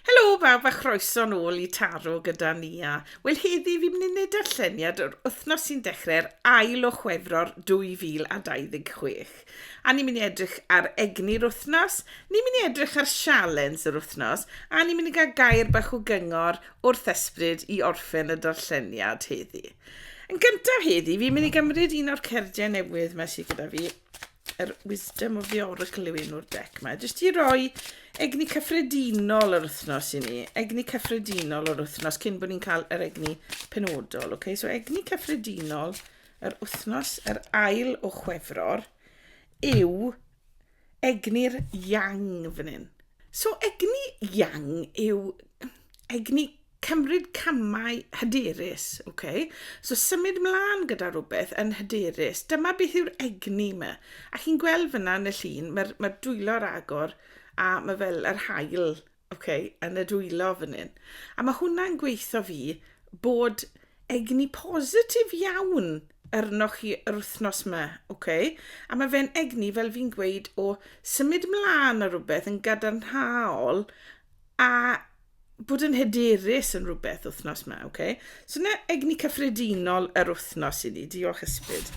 Helo bawb a chroeso nôl i Taro gyda Nia. Wel heddi fi'n mynd i wneud darlleniad o'r wythnos sy'n dechrau'r ail o Chwefror 2026. A ni'n mynd i edrych ar egni'r wythnos, ni'n mynd i edrych ar sialens yr wythnos a ni'n mynd i gael gair bach o gyngor wrth ysbryd i orffen y darlleniad heddi. Yn gyntaf heddi fi'n mynd i gymryd un o'r cerdiau newydd mae sydd gyda fi yr Wisdom of the Oracle yw un o'r dec mae. Jyst i roi egni cyffredinol yr wythnos i ni. Egni cyffredinol yr wythnos cyn bod ni'n cael yr egni penodol. Okay? So egni cyffredinol yr wythnos, yr ail o chwefror, yw egni'r yang fan hyn. So egni yang yw egni Cymryd camau hyderus, ok. So symud mlaen gyda rhywbeth yn hyderus. Dyma beth yw'r egni yma. A chi'n gweld fyna yn y llun, mae'r ma dwylo ar agor a mae fel yr hael ok, yn y dwylo fan hyn. A mae hwnna'n gweithio fi bod egni positif iawn arnoch chi yr wythnos yma, ok. A mae fe'n egni, fel fi'n gweud, o symud mlaen ar rhywbeth yn gadarnhaol A bod yn hyderus yn rhywbeth wythnos yma, oce? Okay? So na egni cyffredinol yr wythnos i ni. Diolch ysbryd.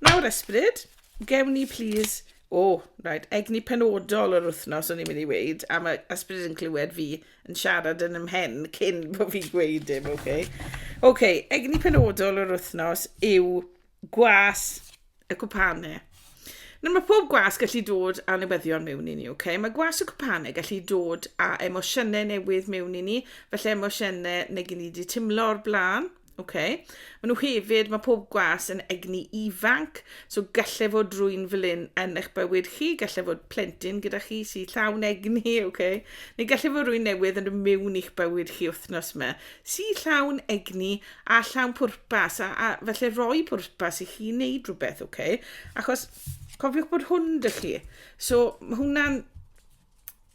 Nawr ysbryd, gewn ni plîs... O, oh, right, egni penodol yr wythnos o'n i'n mynd i weid, a mae ysbryd yn clywed fi yn siarad yn ymhen cyn bod fi'n gweud dim, oce? Okay? Oce, okay, egni penodol yr wythnos yw gwas y cwpane. Nawr mae pob gwas gallu dod â newyddion mewn i ni, ok? Mae gwas y cwpane gallu dod â emosiynau newydd mewn i ni, felly emosiynau neu gen i wedi timlo o'r blaen, ok? Mae nhw hefyd, mae pob gwas yn egni ifanc, so gallai fod drwy'n fel un yn eich bywyd chi, gallai fod plentyn gyda chi sy'n llawn egni, ok? Neu gallai fod rwy'n newydd yn rhywun i'ch bywyd chi wythnos yma, sy'n llawn egni a llawn pwrpas, a, a felly roi pwrpas i chi wneud rhywbeth, oce? Okay? Achos cofiwch bod hwn dy chi. So, mae hwnna'n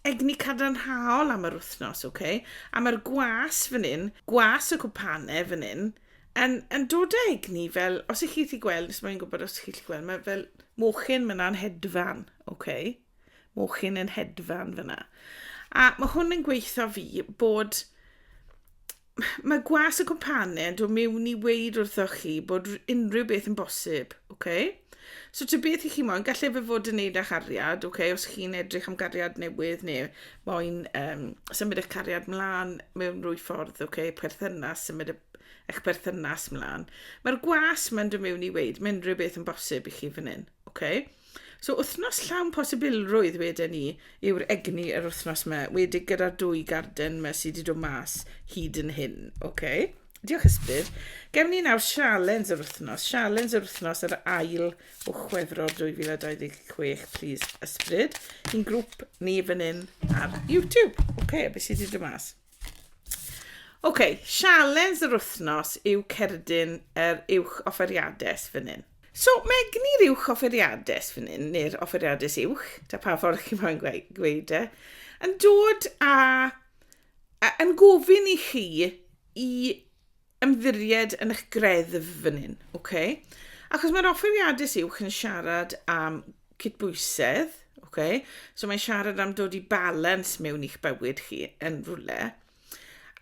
egni cadarnhaol am yr wythnos, oce? Okay? A mae'r gwas fan hyn, gwas y cwpane fan hyn, yn, yn dod â egni fel, os ych chi'n chi gweld, os mae'n gwybod os ych chi'n gweld, mae fel mochyn, mae'n anhedfan, oce? Okay? mochyn yn hedfan fyna. A mae hwn yn gweithio fi bod mae gwas y cwmpanen do mewn i weid wrthoch chi bod unrhyw beth yn bosib, oce? Okay? So ty beth i chi moyn, gallai fe fod yn neud â chariad, oce, okay? os chi'n edrych am gariad newydd neu moyn um, symud eich cariad mlaen mewn rwy ffordd, oce, okay? perthynas, symud eich perthynas mlaen. Mae'r gwas mae'n dod mewn i weid, mae unrhyw beth yn bosib i chi fan hyn, oce? Okay? So wythnos llawn posibilrwydd wedyn ni yw'r egni yr wythnos yma, wedi gyda'r dwy garden yma sydd wedi dod mas hyd yn hyn. Okay. Diolch Ysbryd. Gewn ni nawr sialens yr wythnos. Sialens yr wythnos yr ail o chwefror 2026, please Ysbryd. I'n grŵp ni fan hyn ar YouTube. Oce, okay, beth sydd wedi dod mas? OK, sialens yr wythnos yw cerdyn yr uwch offeriades fan hyn. So, mae egni'r uwch offeriades fan hyn, neu'r offeriades uwch, ta pa ffordd chi moyn gweud e, yn dod a, a yn gofyn i chi i ymddiried yn eich greddf fan hyn, oce? Achos mae'r offer iadus uwch yn siarad am cydbwysedd, oce? So mae'n siarad am dod i balans mewn i'ch bywyd chi yn rhywle.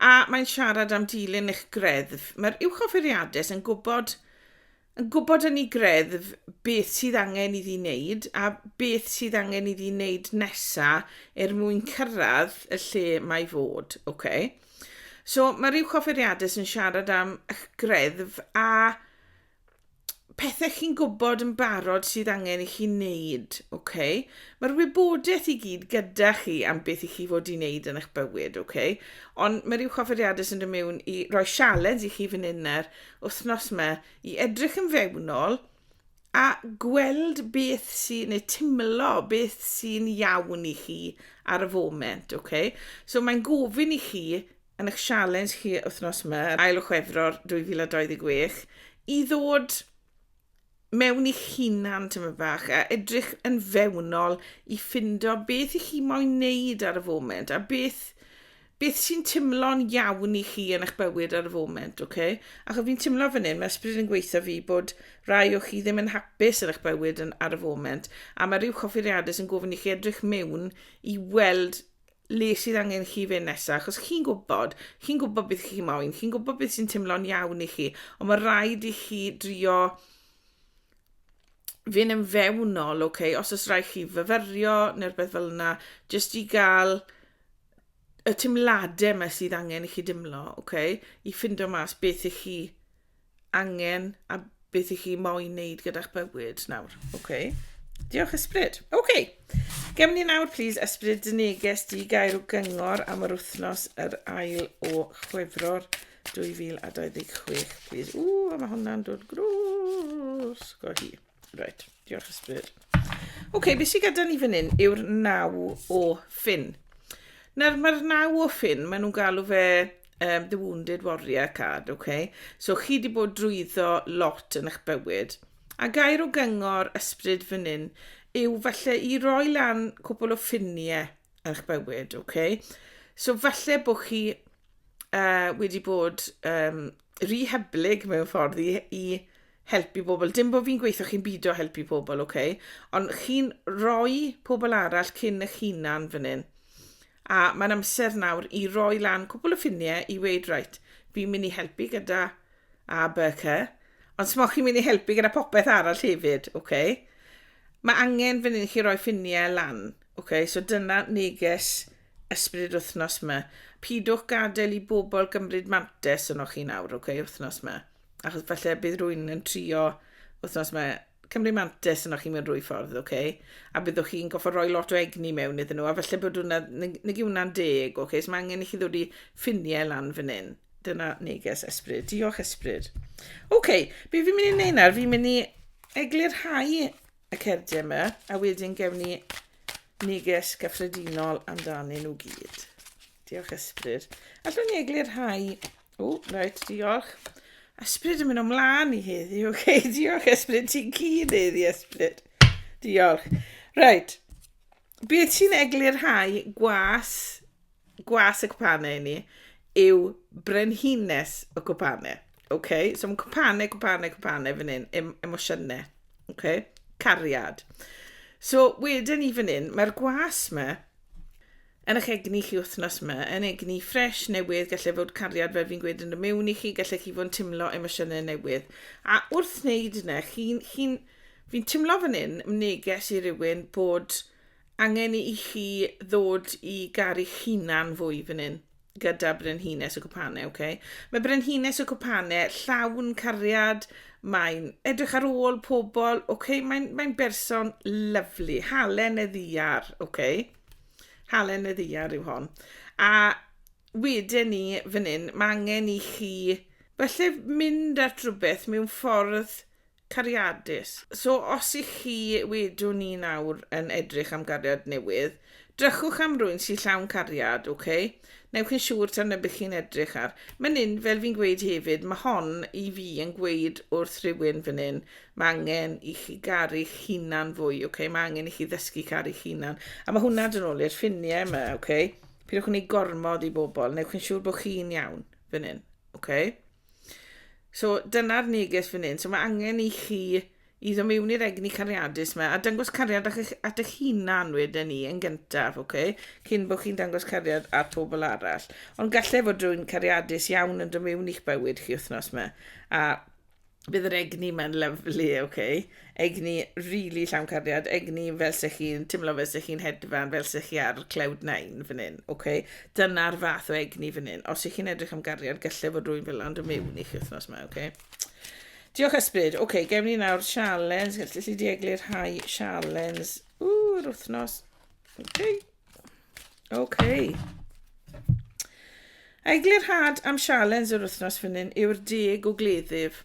A mae'n siarad am dilyn eich greddf. Mae'r uwch offeriadus yn gwybod yn gwybod yn ei greddf beth sydd angen iddi wneud a beth sydd angen iddi wneud nesa er mwyn cyrraedd y lle mae fod. Okay. So mae rhyw chofferiadus yn siarad am eich greddf a pethau chi'n gwybod yn barod sydd angen i chi wneud. Okay. Mae'r wybodaeth i gyd gyda chi am beth i chi fod i wneud yn eich bywyd. Okay. Ond mae rhyw chofferiadus yn dod mewn i roi sialens i chi fan hyn er wythnos yma i edrych yn fewnol a gweld beth sy'n, neu timlo beth sy'n iawn i chi ar y foment, ok? So mae'n gofyn i chi yn eich sialens chi wythnos yma, ail o Chwefror 2026, i ddod mewn i'ch hunan tymed fach a edrych yn fewnol i ffindo beth i chi moyn wneud ar y foment a beth beth sy'n timlo'n iawn i chi yn eich bywyd ar y foment, oce? Okay? Achos fi'n timlo fan hyn, mae ysbryd yn gweithio fi bod rai o chi ddim yn hapus yn eich bywyd yn, ar y foment, a mae rhyw choffeiriadau sy'n gofyn i chi edrych mewn i weld le sydd angen chi fe nesaf, achos chi'n gwybod, chi'n gwybod beth chi'n moyn, chi'n gwybod beth sy'n teimlo'n iawn i chi, ond mae rhaid i chi drio fynd yn fewnol, oce, okay? os oes rhaid chi fyfyrio neu'r beth fel yna, jyst i gael y teimladau yma sydd angen i chi dimlo, oce, okay? i ffindo mas beth i chi angen a beth i chi moyn wneud gyda'ch bywyd nawr. Oce. Okay. Diolch, Ysbryd. Oce. Okay. Gem ni nawr, please, Ysbryd, dy neges di gael gyngor am yr wythnos yr ail o chwefror 2026, please. Ww, mae hwnna'n dod grwrs go hi. Reit, diolch ysbryd. Oce, okay, beth sy'n gyda ni fan hyn yw'r naw o ffin. Nawr, mae'r naw o ffin, maen nhw'n galw fe um, The Wounded Warrior card, oce? Okay? So, chi wedi bod drwyddo lot yn eich bywyd. A gair o gyngor ysbryd fan hyn yw falle i roi lan cwbl o ffiniau, eich bywyd, oce? Okay? So falle bod chi uh, wedi bod um, rehyblyg mewn ffordd i, i helpu pobl. Dim bod fi'n gweithio chi'n byd o helpu pobl, oce? Okay? Ond chi'n rhoi pobl arall cyn eich hunan fan hyn. A mae'n amser nawr i roi lan cwbl o ffiniau i weid, rhaid, fi'n mynd i helpu gyda A, B, C. Ond smoch chi'n mynd i helpu gyda popeth arall hefyd, oce? Okay? Mae angen fan hyn i chi roi ffiniau lan. Oce, so dyna neges ysbryd wythnos yma. Pidwch gadael i bobl gymryd mantes yno chi nawr, oce, wythnos yma. Achos falle bydd rwy'n yn trio wythnos yma cymryd mantes yno chi mewn rwy ffordd, oce? A byddwch chi'n goffa roi lot o egni mewn iddyn nhw, a falle bod hwnna, nag yw hwnna'n deg, oce? So mae angen i chi ddod i ffiniau lan fan hyn. Dyna neges ysbryd. Diolch ysbryd. Oce, okay, be fi'n mynd i wneud nawr? Fi'n mynd i eglurhau y cerdyn yma, a wedyn gewn ni neges gyffredinol amdanyn nhw gyd. Diolch ysbryd. Allwn ni eglur rhai... O, reit, diolch. Ysbryd yn mynd o'mlaen i heddi, oce, okay, diolch ysbryd, ti'n cyn heddi ysbryd. Diolch. Reit, Beth sy'n eglurhau gwas, gwas y cwpane i ni yw brenhines y cwpane. Okay? So mae cwpane, cwpane, cwpane fan hyn, em, emosiynau. Okay? Cariad. So wedyn ni fan hyn, mae'r gwas yma yn eich egni chi wythnos yma, yn egni ffres newydd, gallai fod cariad fel fi'n gweud yn y mewn i chi, gallai chi fod yn teimlo emosiynau newydd. A wrth wneud yna, chi'n chi, n, chi n, Fi'n timlo fan hyn, neges i rywun, bod angen i chi ddod i garu'ch hunan fwy fan hyn, gyda Brenhines y Cwpane, oce? Mae Brenhines y Cwpane llawn cariad, mae'n edrych ar ôl pobl, oce? Mae'n mae berson lyflu, halen y ddiar, oce? Halen y ddiar yw hon. A wedyn ni fan hyn, mae angen i chi falle mynd at rhywbeth mewn ffordd Cariadus. So os i chi, wedwn ni nawr, yn edrych am gariad newydd, drychwch am rwyn sy llawn cariad, ok? Newch yn siŵr ta'r nybych chi'n edrych ar. Myn yn, fel fi'n gweud hefyd, ma hon i fi yn gweud wrth rhywun fyn yn, ma angen i chi garu'ch hunan fwy, ok? Ma angen i chi ddysgu caru'ch hunan. A ma hwnna dyn ôl i'r ffinie yma, ok? Pidwch yn ei gormod i bobl, newch yn siŵr bod chi'n iawn fyn yn, ok? So dyna'r neges fan hyn. So mae angen i chi i ddod mewn i'r egni cariadus yma a dangos cariad at eich, at eich hunan wedyn ni yn gyntaf, oce? Okay? Cyn bod chi'n dangos cariad at pobl arall. Ond gallai fod rhywun cariadus iawn yn dod mewn i'ch bywyd chi wythnos yma. A bydd yr egni yma'n lyflu, oce? Okay? Egni rili llawn cariad, egni fel se chi'n timlo fel se chi'n hedfan, fel se chi ar cloud nine fan hyn, oce? Dyna'r fath o egni fan hyn. Os ych chi'n edrych am gariad, gallai fod rwy'n fel ond yn mewn i chi wythnos yma, oce? Diolch ysbryd. Oce, gewn ni nawr sialens. Gallu chi di eglu'r rhai sialens? Ww, yr wythnos. Oce. OK. Eglurhad am sialens yr wythnos fan hyn yw'r deg o gleddyf.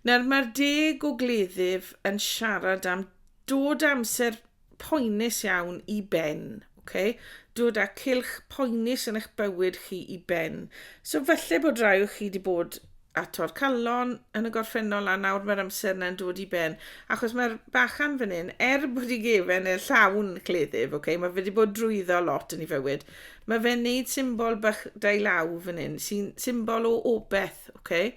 Nawr mae'r deg o gleddyf yn siarad am dod amser poenus iawn i ben. Okay? Dod â cilch poenus yn eich bywyd chi i ben. So falle bod rhai o chi wedi bod a Torcallon yn y gorffennol a nawr mae'r amser yna'n dod i ben achos mae'r bachan fan hyn er bod i gefen e llawn cleddyf okay, mae fe wedi bod drwyddo lot yn ei fywyd mae fe'n neud symbol bach dau law fan hyn sy'n symbol o obeth okay?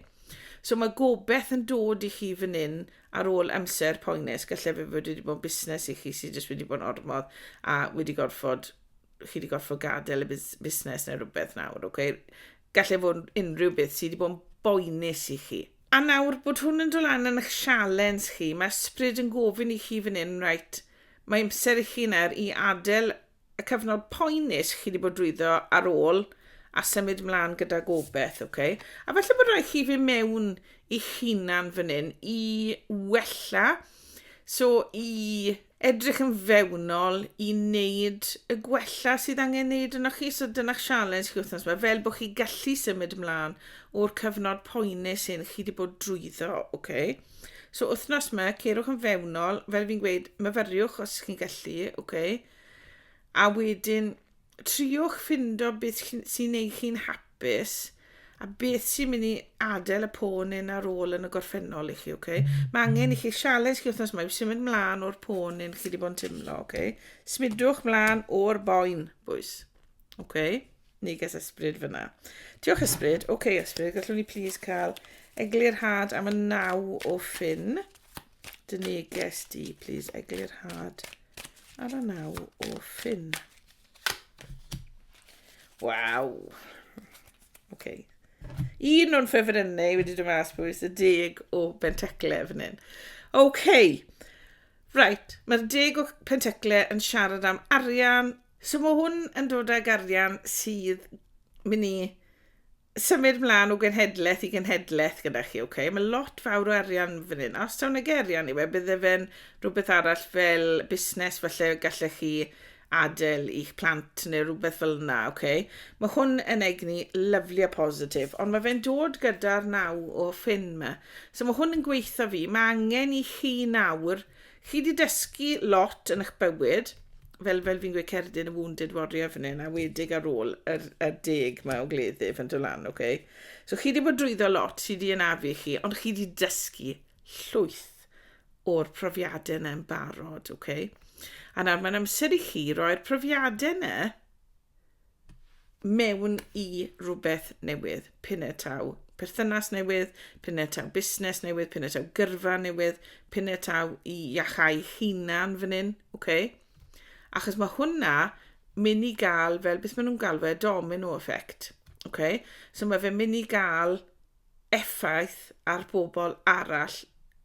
so mae gobeth yn dod i chi fan hyn ar ôl amser poenus gallai fe fod wedi bod busnes i chi sydd jyst wedi bod yn ormodd a wedi gorfod chi wedi gorfod gadael y busnes neu rhywbeth nawr okay? Gall e fod yn unrhyw beth sydd wedi bod yn boenus i chi. A nawr bod hwn yn dod lan yn eich sialens chi, mae ysbryd yn gofyn i chi fan hyn, reit, mae amser i chi nawr i adael y cyfnod poenus chi wedi bod drwyddo ar ôl a symud mlaen gyda gobeith, oce? Okay? A falle bod rhaid chi fy mewn i chinan fan hyn i wella, so i edrych yn fewnol i wneud y gwella sydd angen wneud yno chi. So dyna'ch sialens chi wythnos yma, fel bod chi gallu symud ymlaen o'r cyfnod poenus hyn chi wedi bod drwyddo, oce? Okay? So wythnos yma, cerwch yn fewnol, fel fi'n gweud, myfyriwch os chi'n gallu, oce? Okay? A wedyn, triwch ffindo beth sy'n ei chi'n hapus a beth sy'n mynd i adael y pôn yn ar ôl yn y gorffennol i chi, oce? Okay? Mae angen i chi sialens chi wythnos mae symud mlaen o'r pôn yn chi wedi bod yn teimlo, oce? Okay? Smidwch mlaen o'r boen, bwys. Oce? Okay? Ni ges ysbryd fyna. Diolch ysbryd. Oce okay, ysbryd, gallwn ni plis cael eglurhad am y naw o ffyn. Dyn ni ges di, please, eglurhad ar y naw o ffyn. Waw! OK. Un o'n ffefrynnau wedi dod mas bwys y deg o bentecle fan hyn. OK. Right, mae'r deg o pentecle yn siarad am arian. So mae hwn yn dod ag arian sydd mynd i symud mlaen o genhedlaeth i genhedlaeth gyda chi, ok? Mae lot fawr o arian fan hyn. Os tawn ag arian i fe, bydde fe'n rhywbeth arall fel busnes, falle gallech chi adael i'ch plant neu rhywbeth fel yna, ok? Mae hwn yn egni lyflu a positif, ond mae fe'n dod gyda'r naw o ffyn yma. So mae hwn yn gweitha fi, mae angen i chi nawr Chi 'di dysgu lot yn eich bywyd, fel fel fi'n gweud cerdyn y wounded warrior fan hyn, a wedig ar ôl yr, yr deg mae o gleddyf yn dod lan, ok? So chi 'di bod drwyddo lot sydd 'di anafu i chi, ond chi 'di dysgu llwyth o'r profiadau yna yn barod, ok? A nawr mae'n amser i chi roi'r profiadau yna mewn i rhywbeth newydd, pine taw perthynas newydd, pine taw busnes newydd, pine taw gyrfa newydd, pine taw i iachau hunan fan hyn, okay? Achos mae hwnna mynd i gael, fel beth maen nhw'n galw e, domino effect. Okay? So mae fe mynd i gael effaith ar bobl arall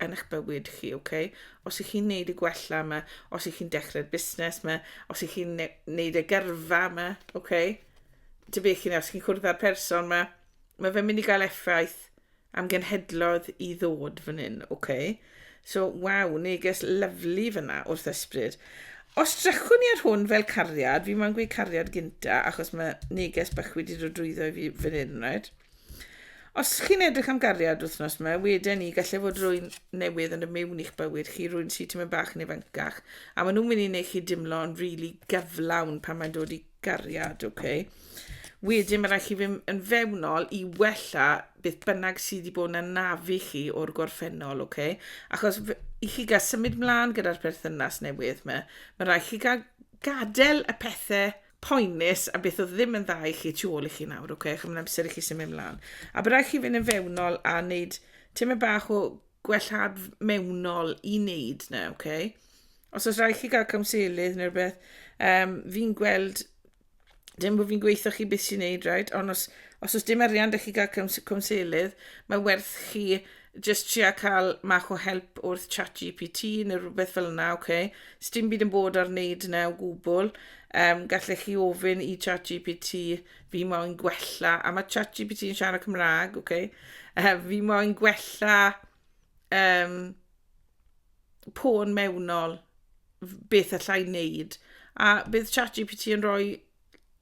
yn eich bywyd chi, ok? Os ych chi'n neud y gwella yma, os ych chi'n dechrau'r busnes yma, os ych chi'n neud y gyrfa yma, ok? Dy beth chi'n os chi'n cwrdd â'r person yma, mae fe'n mynd i gael effaith am genhedlodd i ddod fan hyn, ok? So, waw, neges lyflu fyna wrth ysbryd. Os drychwn ni ar hwn fel cariad, fi mae'n gweud cariad gynta, achos mae neges bych wedi dod drwyddo i fi fan hyn, right? Os chi'n edrych am gariad wythnos yma, weden ni, gallai fod rwy'n newydd yn y miwn i'ch bywyd chi, rwy'n si tymed bach yn ifancach, a maen nhw'n mynd i wneud chi dimlo yn rili really gyflawn pan mae'n dod i gariad, oce? Okay? Wedyn mae rhaid chi fynd yn fewnol i wella beth bynnag sydd wedi bod yn nafu chi o'r gorffennol, oce? Okay? Achos i chi gael symud mlaen gyda'r perthynas newydd yma, mae rhaid chi gael gadael y pethau poenus a beth oedd ddim yn dda i chi tu ôl i chi nawr, ok, chymryd amser i chi symud ymlaen. A bydd rhaid chi fynd yn fewnol a wneud tymed bach o gwellhad mewnol i wneud na, ok? Os oes rhaid chi gael cymselydd neu rhywbeth, um, fi'n gweld, dim bod fi'n gweithio chi beth sy'n wneud, right? ond os, os oes dim arian da chi gael cymselydd, mae werth chi jyst tria cael mach o help wrth chat GPT neu rhywbeth fel yna, oce. Okay. Sdim byd yn bod ar wneud yna o gwbl. Um, gallech chi ofyn i chat GPT, fi moyn gwella, a mae chat GPT yn siarad Cymraeg, oce. Okay. Uh, fi moyn gwella um, pôn mewnol, beth allai wneud. A bydd chat GPT yn rhoi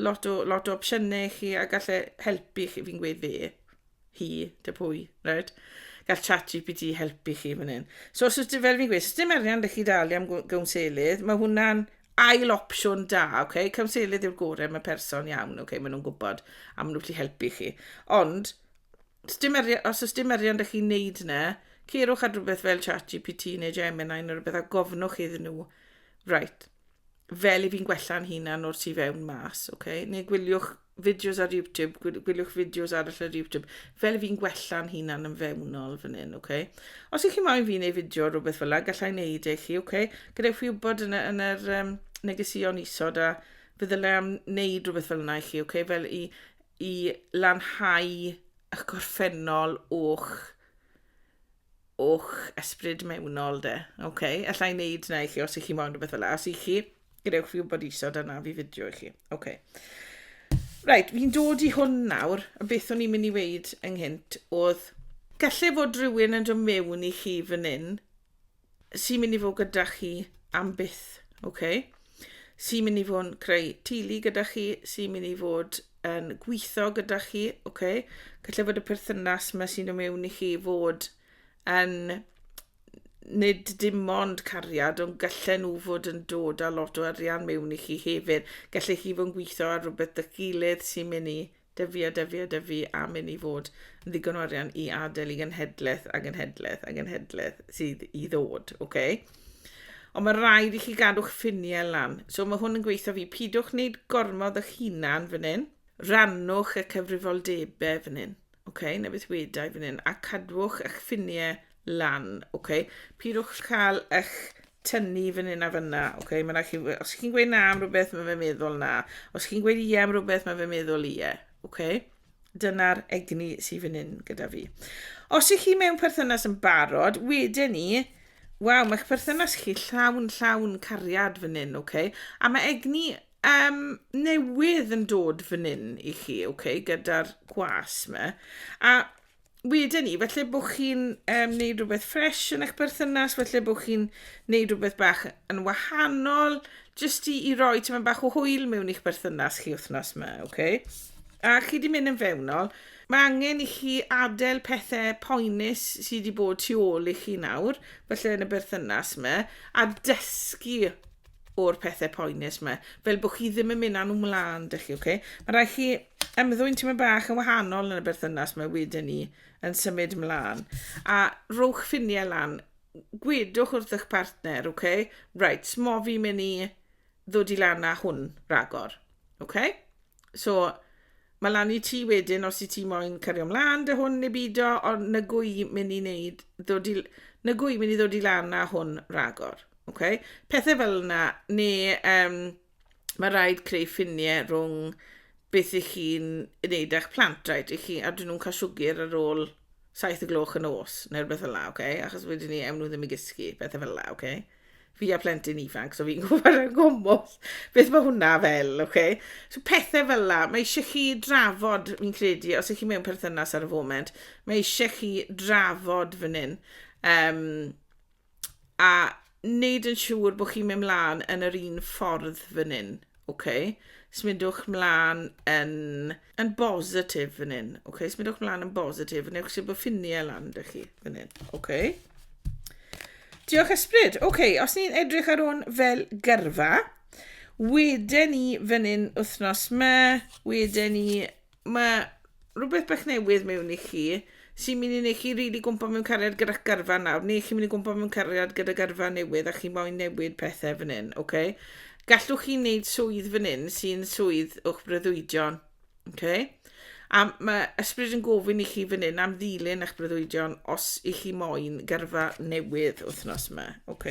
lot o, lot o opsiynau i chi a gallai helpu chi, fi'n gweud fe. hi, dy pwy, right? Gall chat GPT helpu chi fan hyn. So os ydych, fel fi'n gweud, os ydych arian ydych chi dalu am gawnselydd, mae hwnna'n ail opsiwn da, okay? Cawnselydd yw'r gorau, mae person iawn, okay? maen nhw'n gwybod am nhw'n gallu helpu chi. Ond, os dim arian, os ydych dim arian ydych chi'n neud yna, ceirwch ar rhywbeth fel chat GPT neu Gemini neu rhywbeth a gofnwch iddyn nhw, right, fel i fi'n gwella'n hunan o'r tu fewn mas, okay? neu gwyliwch fideos ar YouTube, gwyliwch fideos arall ar YouTube, fel fi'n gwella'n hunan yn fewnol fan hyn, oce? Okay? Os ych chi moyn fi wneud fideo rhywbeth fel yna, gallai wneud eich chi, oce? Okay? Gadewch fi wybod yn, yn yr um, negesion isod a fe ddylai am wneud rhywbeth fel yna i chi, oce? Okay? Fel i, i lanhau eich gorffennol o'ch o'ch ysbryd mewnol de. OK, alla i wneud na i chi os ych chi'n moyn rhywbeth fel yna. Os ych chi, gadewch fi wybod isod a na fi fideo i chi. OK. Right, fi'n dod i hwn nawr, a beth o'n i'n mynd i weid ynghynt oedd, gallai fod rhywun yn dod mewn i chi fan hyn sy'n mynd i fod gyda chi am byth, OK? Sy'n mynd i fod yn creu tili gyda chi, sy'n mynd i fod yn gweithio gyda chi, oce? Okay? Gallai fod y perthynas mae sy'n y mewn i chi fod yn nid dim ond cariad, ond gallai nhw fod yn dod â lot o arian mewn i chi hefyd. Gallai chi fod yn gweithio ar rhywbeth dy gilydd sy'n mynd i dyfu a dyfu a dyfu a mynd i fod yn ddigon o arian i adael i genhedlaeth a genhedlaeth a genhedlaeth sydd i ddod, oce? Okay? Ond mae rhaid i chi gadw'ch ffiniau lan. So mae hwn yn gweithio fi. Pidwch wneud gormod o'ch hunan fan hyn. Rannwch y cyfrifoldebau fan hyn. Okay, na beth wedau fan hyn. A cadwch eich ffiniau lan. Okay. Pidwch cael eich tynnu fan hyn a fanna. Okay. Mae chi, os chi'n gweud na am rhywbeth, mae fe meddwl na. Os chi'n gweud ie am rhywbeth, mae fe meddwl ie. Okay. Dyna'r egni sydd fan hyn gyda fi. Os ych chi mewn perthynas yn barod, wedyn ni, waw, mae'ch perthynas chi llawn llawn cariad fan hyn, oce? Okay? A mae egni um, newydd yn dod fan hyn i chi, oce, okay? gyda'r gwas me. A wedyn ni, felly bod chi'n um, neud rhywbeth ffres yn eich berthynas, felly bod chi'n neud rhywbeth bach yn wahanol, jyst i, i roi ti'n bach o hwyl mewn i'ch berthynas chi wythnos yma, oce? Okay? A chi di mynd yn fewnol, mae angen i chi adael pethau poenus sydd wedi bod tu ôl i chi nawr, felly yn y berthynas yma, a dysgu o'r pethau poenus yma, fel bod chi ddim yn mynd â nhw mlaen, dych chi, okay? Mae rhaid chi ymddwyn tyma bach yn wahanol yn y berthynas mae wedyn ni yn symud mlaen. A rhowch ffiniau lan, gwedwch wrth eich partner, okay? Right, mo fi mynd i ddod i lan â hwn ragor, okay? So, Mae lan i ti wedyn os i ti moyn cario mlaen dy hwn neu beidio, ond na gwy mynd i wneud, ddod i, na gwy mynd i ddod i lan a hwn ragor. Okay? Pethau fel yna, neu um, mae rhaid creu ffiniau rhwng beth i chi'n wneud â'ch plant, right? I chi, a dyn nhw'n cael siwgr ar ôl saith y gloch yn os, neu rhywbeth fel yna, okay? achos wedyn ni ewn nhw ddim i gysgu, pethau fel yna, okay? fi a plentyn ifanc, so fi'n gwybod yn gwmwll beth mae hwnna fel, oce? Okay? So pethau fel la, mae eisiau chi drafod, fi'n credu, os ych chi mewn perthynas ar y foment, mae eisiau chi drafod fan hyn. Um, a wneud yn siŵr bod chi'n mynd mlaen yn yr un ffordd fan hyn, Ok, smidwch mlaen yn, yn bositif fan hyn. Ok, smidwch mlaen yn bositif. Newch chi bod ffiniau lan da chi fan hyn. Ok. Diolch ysbryd. Ok, os ni'n edrych ar hwn fel gyrfa, wedyn ni fan hyn wythnos ma, wedyn ni Mae rhywbeth bach newydd mewn i chi sy'n mynd i wneud chi rili gwmpa mewn cariad gyda garfa nawr, neu chi'n mynd i gwmpa mewn cariad gyda garfa newydd a chi moyn newid pethau fan hyn, ok? Gallwch chi wneud swydd fan hyn sy'n swydd o'ch breuddwydion, ok? A mae ysbryd yn gofyn i chi fan hyn am ddilyn eich breuddwydion os i chi moyn gyrfa newydd wythnos yma, ok?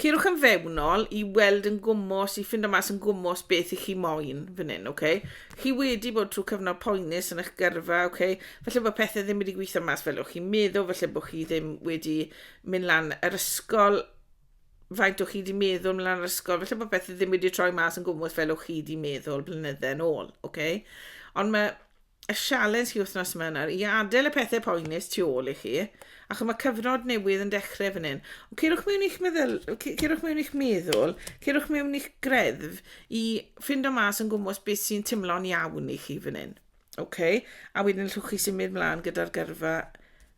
Ceirwch yn fewnol i weld yn gwmwys, i ffindo mas yn gwmwys beth i chi moyn fan hyn, ok? Chi wedi bod trwy cyfnod poenus yn eich gyrfa, ok? Felly bod pethau ddim wedi gweithio mas fel o'ch chi'n meddwl, felly bod chi ddim wedi mynd lan yr ysgol faint o'ch chi wedi meddwl mynd lan yr ysgol, felly bod pethau ddim wedi troi mas yn gwmwys fel o'ch chi wedi meddwl blynydde yn ôl, ok? Ond mae y sialens chi wthnos yma yn nawr i adel y pethe poenus tu ôl i chi, achos mae cyfnod newydd yn dechrau fan hyn. Ond cerwch mewn i'ch meddyl, cerwch mewn i'ch meddwl, cerwch mewn i'ch greddf i ffindo mas yn gwmwys beth sy'n timlo'n iawn i chi fan hyn. Okay? A wedyn llwch chi symud mlaen gyda'r gyrfa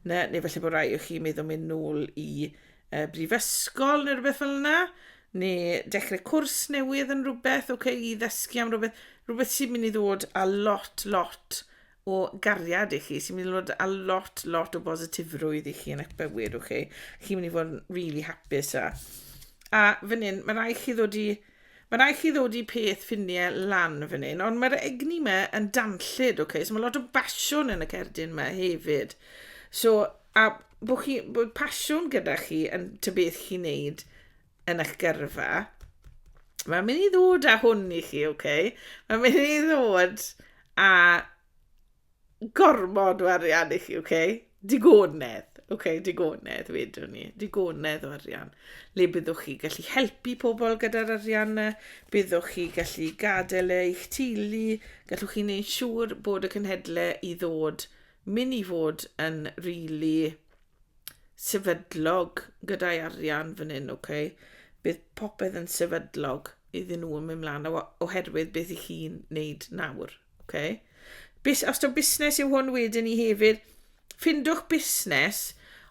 na, neu felly bod rai o chi meddwl mynd nôl i y brifysgol neu rhywbeth fel yna, neu dechrau cwrs newydd yn rhywbeth, okay, i ddysgu am rhywbeth, rhywbeth sy'n mynd i ddod a lot, lot o gariad i chi, sy'n mynd i ddod a lot, lot o bositifrwydd i chi yn eich bywyd, okay? Chi'n mynd i fod yn really hapus a... A fan hyn, mae rai chi ddod i Ma rai chi ddod i peth ffinie lan fan hyn, ond mae'r egni yma yn danllyd, ok? So mae lot o basiwn yn y cerdyn yma hefyd. So, a bod, chi, bod pasiwn gyda chi yn ty beth chi'n neud yn eich gyrfa, mae'n mynd i ddod â hwn i chi, ok? Mae'n mynd i ddod a gormod o arian i chi, oce? Okay? Digonedd, oce, okay, digonedd, wedwn ni. Digonedd o arian. Le byddwch chi gallu helpu pobl gyda'r arian yna, byddwch chi gallu gadael e i'ch teulu, gallwch chi wneud siŵr bod y cynhedle i ddod, mynd i fod yn rili really sefydlog gyda'i arian fan hyn, oce? Okay? Bydd popeth yn sefydlog iddyn nhw yn mynd mlaen oherwydd beth i chi'n wneud nawr. Ok. Bus, os ti'n busnes yw hwn wedyn ni hefyd, ffindwch busnes,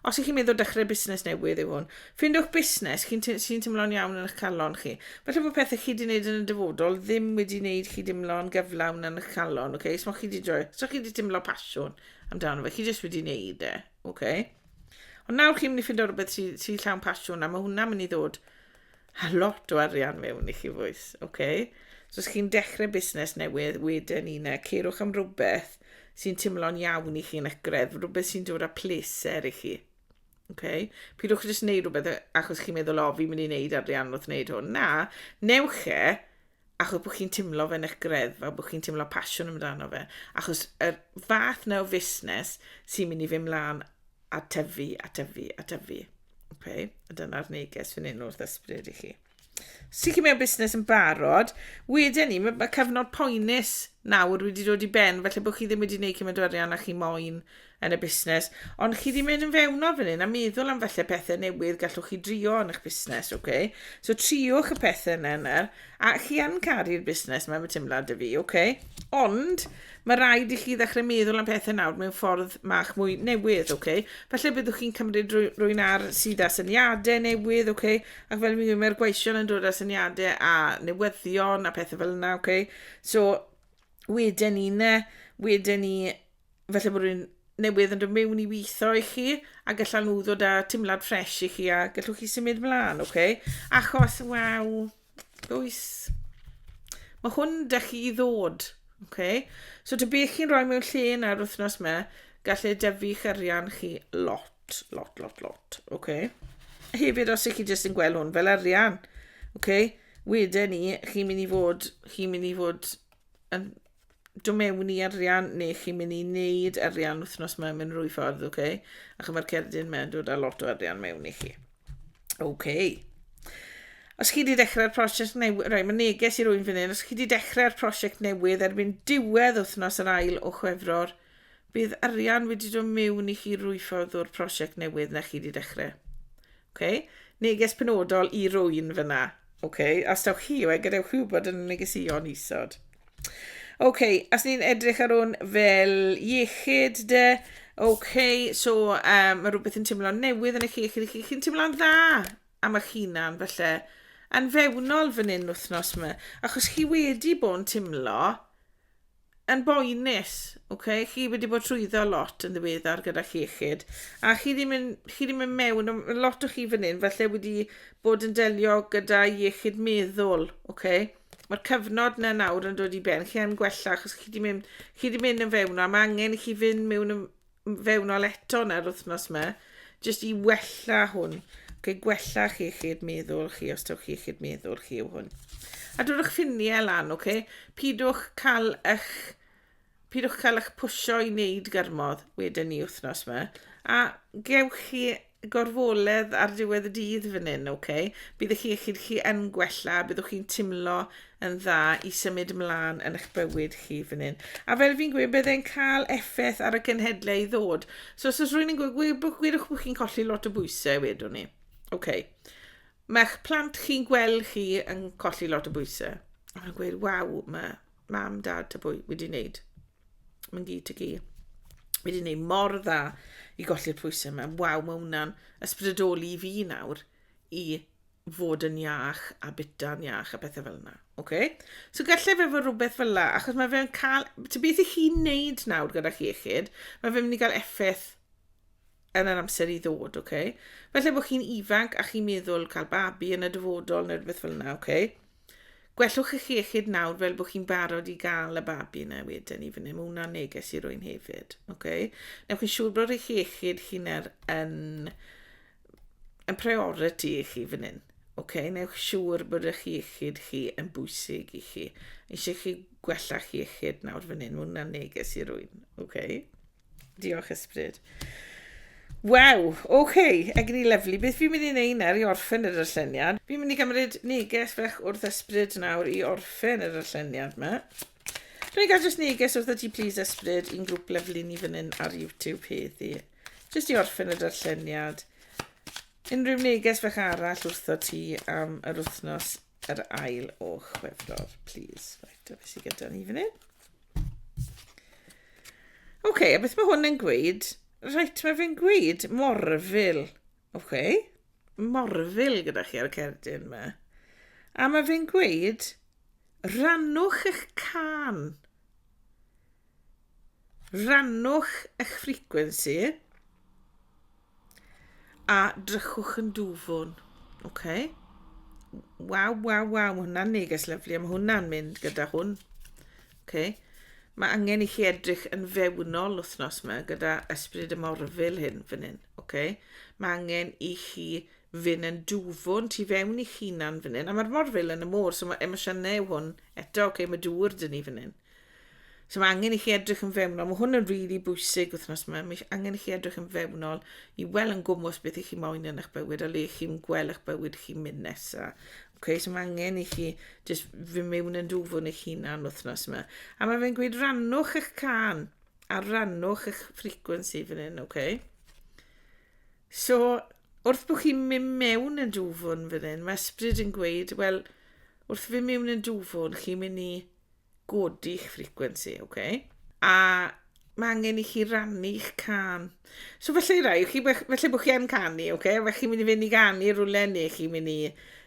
os ych chi'n meddwl dechrau busnes newydd yw hwn, ffindwch busnes sy'n sy teimlo'n iawn yn eich calon chi. Felly bod pethau chi wedi gwneud yn y dyfodol ddim wedi gwneud chi deimlo'n gyflawn yn eich calon, okay? so chi wedi droi, so chi wedi teimlo pasiwn amdano fe, chi jyst wedi gwneud e, okay? Ond nawr chi'n mynd i ffindo rhywbeth sy'n sy llawn pasiwn, a mae hwnna'n mynd i ddod a lot o arian mewn i chi fwys, oce? Okay? So os chi'n dechrau busnes newydd, wedyn un e, ceirwch am rhywbeth sy'n timlo'n iawn i chi'n ygredd, rhywbeth sy'n dod â pleser i chi. Okay? Pidwch jyst wneud rhywbeth achos chi'n meddwl, o, fi'n mynd i wneud arian wrth wneud hwn. Na, newch e, achos bod chi'n timlo fe'n eich greddfa, bod chi'n timlo pasiwn amdano fe, achos y fath na o fusnes sy'n mynd i fy mlaen a tyfu, a tyfu, a tyfu. Okay? A dyna'r neges fan hyn wrth ysbryd i chi. Sut chi mewn busnes yn barod, wedyn ni, mae, mae cyfnod poenus nawr wedi dod i ben, felly bod chi ddim wedi gwneud cymaint o arian a chi moyn yn y busnes, ond chi ddim yn fewnol fan hyn a meddwl am falle pethau newydd gallwch chi drio yn eich busnes, ok? So triwch y pethau yna yna, a chi yn caru'r busnes mae'n fy teimlad y fi, ok? Ond mae rhaid i chi ddechrau meddwl am pethau nawr mewn ffordd mach mwy newydd, ok? Falle byddwch chi'n cymryd rwy'n ar sydd â syniadau newydd, ok? Ac fel mi'n gwybod, mae'r gweision yn dod â syniadau a newyddion a pethau fel yna, ok? So, wedyn ni ne, wedyn ni falle bod rhywun newydd yn dod mewn i weithio i chi, a gallan nhw ddod â timlad ffres i chi, a gallwch chi symud ymlaen, oce? Okay? Achos, waw, oes, mae hwn da chi i ddod, oce? Okay? So, ta beth chi'n rhoi mewn lle yn yr wythnos yma, gall e dyfu chyrian chi lot, lot, lot, lot, oce? Okay? Hefyd, os ych chi jyst yn gweld hwn fel arian, oce? Okay? Wedyn ni, chi'n mynd i fod, chi'n mynd i fod yn do mewn i arian neu chi'n mynd i wneud arian wythnos mae'n mynd rwy ffordd, oce? Okay? Ac mae'r cerdyn mae'n dod â lot o arian mewn i chi. Oce. Okay. Os chi wedi dechrau'r prosiect newydd, rhaid mae neges i rwy'n fan hyn, os chi wedi dechrau'r prosiect newydd erbyn diwedd wythnos yr ail o chwefror, bydd arian wedi dod mewn i chi rwy ffordd o'r prosiect newydd na chi wedi dechrau. Okay? Neges penodol i rwy'n fyna. Okay? Os dawch chi yw e, gadewch chi wybod yn y negesion isod. Okay, os ni'n edrych ar hwn fel iechyd de, okay, so um, mae rhywbeth yn teimlo'n newydd yn eich iechyd chi, chi'n teimlo'n dda am eich hunan felly, yn fewnol fan hyn wythnos yma, achos chi wedi bod yn teimlo yn boenus, ok, chi wedi bod trwyddo lot yn ddiweddar gyda llechyd, a chi ddim yn, chi ddim yn mewn, mae lot o chi fan hyn falle wedi bod yn delio gyda iechyd meddwl, ok? Mae'r cyfnod na nawr yn dod i ben, chi yn gwella, achos chi wedi mynd, chi wedi mynd yn fewn, a mae angen i chi fynd mewn yn, fewnol eto yn yr wythnos yma, jyst i wella hwn, ac i gwella chi chi'r meddwl chi, os taw chi chi'r meddwl chi yw hwn. A dwrwch ffiniau lan, oce? Okay? Pidwch cael eich... Pidwch cael eich pwysio i wneud gyrmodd wedyn ni wythnos yma. A gewch chi gorfoledd ar diwedd y dydd fan hyn, oce? Okay? Bydd eich iechyd chi yn gwella, byddwch chi'n timlo yn dda i symud ymlaen yn eich bywyd chi fan hyn. A fel fi'n gweud, bydd e'n cael effaith ar y cenhedlau i ddod. So os oes rwy'n yn gweud, gwedwch bod chi'n colli lot o bwysau, wedwn ni. Oce. Okay. Mae'ch plant chi'n gweld chi yn colli lot o bwysau. A mae'n gweud, waw, mae mam, dad, ta bwy wedi wneud. Mae'n gyd i gyd. Mae wedi gwneud mor dda i golli'r pwysau yma. Waw, mae hwnna'n ysbrydoli i fi nawr i fod yn iach a bita'n iach a bethau fel yna. Okay? So gallai fe fod rhywbeth fel yna, achos mae fe'n cael... Ti'n beth i chi'n neud nawr gyda chi iechyd, mae fe'n mynd i gael effaith yn yr amser i ddod, okay? Felly bod chi'n ifanc a chi'n meddwl cael babi yn y dyfodol neu rhywbeth fel yna, okay? Gwellwch eich iechyd nawr fel bod chi'n barod i gael y babi yna wedyn i fyny. Mae hwnna'n neges i rwy'n hefyd. Okay? Newch chi'n siŵr bod eich iechyd chi'n er yn, yn priority i chi fan hyn. Okay? Newch siŵr bod eich iechyd chi yn bwysig i chi. Eisiau chi gwella chi iechyd nawr fan hyn. Mae hwnna'n neges i rwy'n. Okay? Diolch, Ysbryd. Waw, oce, okay. egni lyflu. Beth fi'n mynd i wneud nawr i orffen yr ylleniad? Fi'n mynd i gymryd neges fach wrth ysbryd nawr i orffen yr ylleniad yma. Dwi'n cael just neges wrth y ti please ysbryd i'n grŵp lyflu ni fan hyn ar YouTube heddi. Just i orffen yr ylleniad. Unrhyw neges fach arall wrth o ti am yr wythnos yr ail o Chwefror, please. Right, a beth sydd gyda ni fan hyn? Oce, okay, a beth mae hwn yn gweud? Right, mae fe'n gweud morfil. Oce, okay. morfil gyda chi ar y cerdyn yma. A mae fe'n gweud, rannwch eich can. Rhannwch eich ffricwensi a drychwch yn dwfwn. Ok. Waw, waw, waw, mae hwnna'n neges lyflu, a mae hwnna'n mynd gyda hwn. Ok. Mae angen i chi edrych yn fewnol wythnos yma gyda ysbryd y morfil hyn fan hyn. Ok. Mae angen i chi fynd yn dwfwn tu fewn i chi'n hunan fan hyn. A mae'r morfil yn y môr, so mae emosiynau yw hwn eto. Ok, mae dŵr dyn ni fan hyn. So mae angen i chi edrych yn fewnol. Mae hwn yn rili really bwysig wythnos yma. Mae angen i chi edrych yn fewnol i weld yn gwmwys beth i chi moyn yn eich bywyd a le chi'n gweld eich bywyd chi'n mynd nesaf. Okay, so mae angen i chi just fy mewn yn dwfwn eich hunan wythnos yma. A mae fe'n gweud rannwch eich can a rannwch eich frequency fan hyn, okay? So, wrth bod chi'n mynd mewn yn dwfwn fan hyn, mae ysbryd yn gweud, wel, wrth fy mewn yn dwfwn, chi'n mynd i godi'ch frequency, oce? Okay? A mae angen i chi rannu'ch can. So felly i rai, chi, felly bod chi yn canu, oce? Okay? Felly chi'n mynd i fynd i ganu rhywle neu chi'n mynd i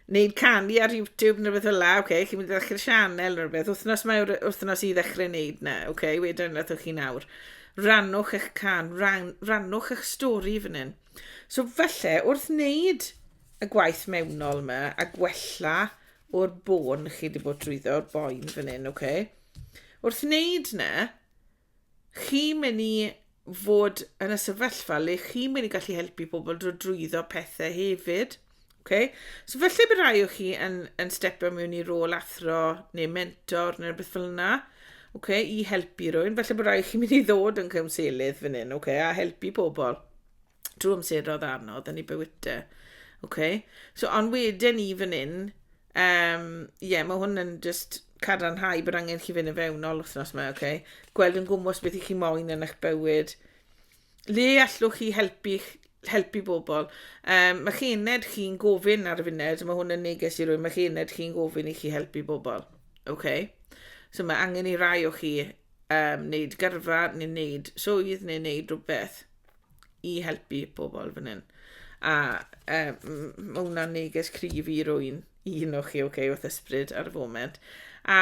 wneud canu ar YouTube neu beth fel la, oce? Okay? Chi'n mynd i ddechrau sianel neu beth. Wythnos mae wythnos i ddechrau wneud na, oce? Okay? Wedyn ydych chi'n awr. Rannwch eich can, ran, rannwch eich stori fan hyn. So felly, wrth wneud y gwaith mewnol yma a gwella o'r bôn chi wedi bod drwyddo, o'r boen fan hyn, ok? Wrth wneud na, chi mynd i fod yn y sefyllfa le chi mynd i gallu helpu pobl drwy drwyddo pethau hefyd. Okay? So felly bydd rhai o chi yn, yn stepio mewn i rôl athro neu mentor neu beth fel yna okay, i helpu rhywun. Felly bydd rhai chi mynd i ddod yn cymselydd fan hyn okay, a helpu pobl. Trwy amser oedd anodd yn ei bywydau. Okay. So, ond wedyn ni fan hyn, um, yeah, mae hwn yn just cadarnhau bod angen chi fynd yn fewnol wythnos yma, okay? Gweld yn gwmwys beth i chi moyn yn eich bywyd. Le allwch chi helpu, helpu bobl? Um, mae chi ened chi'n gofyn ar y funed, mae hwn yn neges i rwy'n, mae chi ened chi'n gofyn i chi helpu bobl. Okay? So mae angen i rai o chi um, wneud gyrfa neu wneud swydd neu wneud rhywbeth. i helpu pobl fan hyn. A um, mae hwnna'n neges cryf i rwy'n un o'ch chi, okay, wrth ysbryd ar y foment. A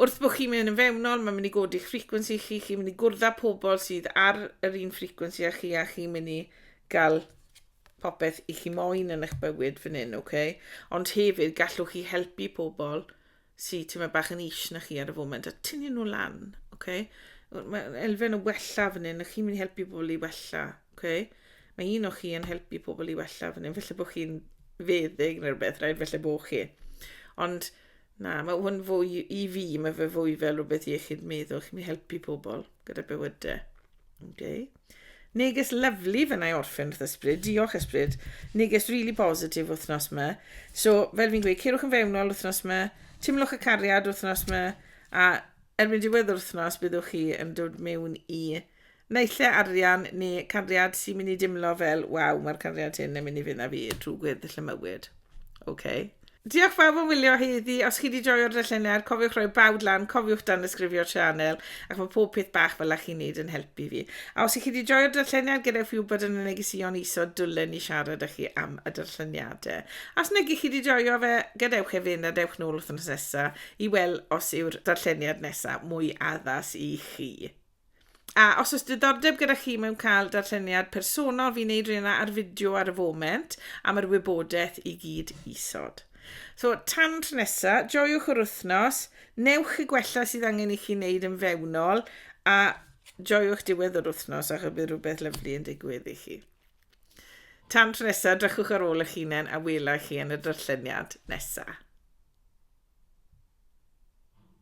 wrth bod chi'n mynd yn fewnol, mae'n mynd i godi'ch frequency chi, chi'n mynd i gwrdd â pobl sydd ar yr un frequency â chi, a chi'n mynd i gael popeth i chi moyn yn eich bywyd fan hyn, okay? Ond hefyd, gallwch chi helpu pobl sy tyma bach yn ish na chi ar y foment a tynnu nhw lan, okay? Mae elfen o wella fan hyn, a chi'n mynd i helpu pobl i wella, okay? Mae un o chi yn helpu pobl i wella fan hyn, felly bod chi'n feddyg neu rhywbeth, rhaid felly bod chi. Ond na, mae hwn fwy i fi, mae fe fwy fel rhywbeth iechyd meddwl, chi'n mynd i helpu pobl gyda bywydau. Okay. Neges lyflu fe na i orffen wrth ysbryd. Diolch ysbryd. Neges really positif wythnos yma. So, fel fi'n gweud, ceirwch yn fewnol wythnos yma, timlwch y cariad wythnos yma, a erbyn diwedd yr wythnos byddwch chi yn dod mewn i naille arian neu cariad sy'n mynd i dimlo fel, waw, mae'r cariad hyn yn mynd i fynd â fi trwy gwedd llymywyd. OK. Diolch bawb am wylio heddi, os chi di joio'r darlleniad, cofiwch rhoi bawd lan, cofiwch danysgrifio'r sianel, ac mae pob peth bach fel a chi'n neud yn helpu fi. A os i chi di joio'r darlleniad, gadewch fi wybod yn y negeseuon isod, dwlen i siarad â chi am y darlleniadau. A os nag i chi di joio fe, gadewch e fynd a dewch nôl wythnos nesa i weld os yw'r darlleniad nesa mwy addas i chi. A os oes diddordeb gyda chi mewn cael darlleniad personol, fi'n neud rhywun ar fideo ar y foment am yr wybodaeth i gyd isod. So, tan tro nesa, joiwch yr wythnos, newch y gwella sydd angen i chi wneud yn fewnol, a joiwch diwedd yr wythnos ac y bydd rhywbeth lyflu yn digwydd i chi. Tan tro nesa, drychwch ar ôl eich hunain a wela chi yn y darlleniad nesa.